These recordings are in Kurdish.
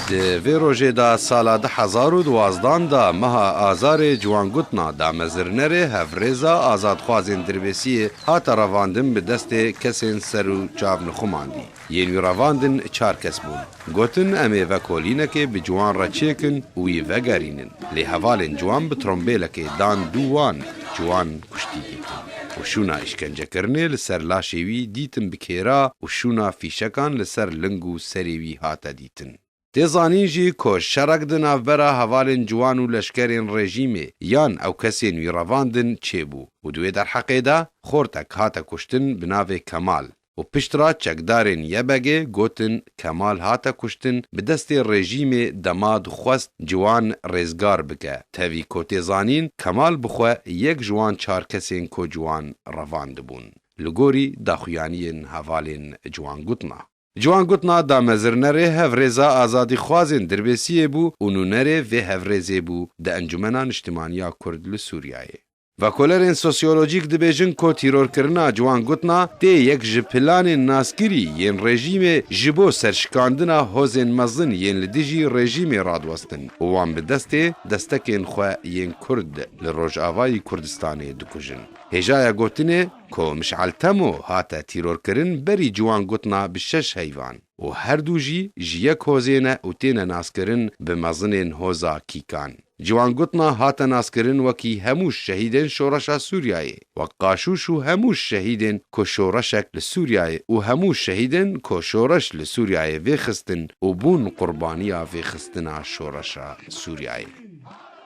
Di vê rojê de sala du hezar û duwazdan de meha Azarê ciwan gotina damezirnerê hevrêza azadxwazên dirbêsiyê hate revandin bi destê kesên ser û çav nixumandî. Yên wî revandin çar kes bûn. Gotin em ê ve kolînekê bi ciwan re çêkin û wî vegerînin. Lê hevalên ciwan bi trombêlekê dan dû wan, ciwan kuştî dîtin û şûna îşkencekirinê li ser laşê wî dîtin bi kêra û şûna fîşekan li ser ling û serê wî hate dîtin. Tê zanîn jî ku şerek di navbera hevalên ciwan û leşkerên rejîmê yan ew kesên wî revandin çêbû û di wê derheqê de xortek hate kuştin bi navê Kemal, û piştre çekdarên YBG gotin Kemal hate kuştin bi destê rejîmê dema dixwest ciwan rêzgar bike, tevî ku tê zanîn Kemal bi xwe yek ji wan çar kesên ku ciwan revandibûn li gorî daxuyaniyên hevalên ciwan gotina. Ciwan gotina damezirnerê hevrêza azadîxwazên Dirbêsiyê bû û nûnerê vê hevrêzê bû di Encûmena Niştimaniya Kurd li Sûriyeyê. Vekolerên sosyolojîk dibêjin ku tîrorkirina ciwan gotna tê yek ji planên naskirî yên rejîmê ji bo serşikandina hozên mezin yên li dijî rejîmê radiwestin û wan bi destê destekên xwe yên Kurd li Rojavayî Kurdistanê dikujin. Hêjaya gotinê ku Mişal Temo hate tîrorkirin berî ciwan gotna bi şeş heyvan. û her du jî ji yek hozê ne û têne naskirin bi mezinên hoza Kîkan. Ciwangotna hate naskirin wekî hemû şehîdên Şoreşa Sûriyeyê, wek qaşûş û hemû şehîdên ku şoreşek li Sûriyeyê û hemû şehîdên ku şoreş li Sûriyeyê vêxistin û bûn qurbaniya vêxistina şoreşa Sûriyeyê.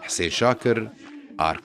Hisên Şakir, ark.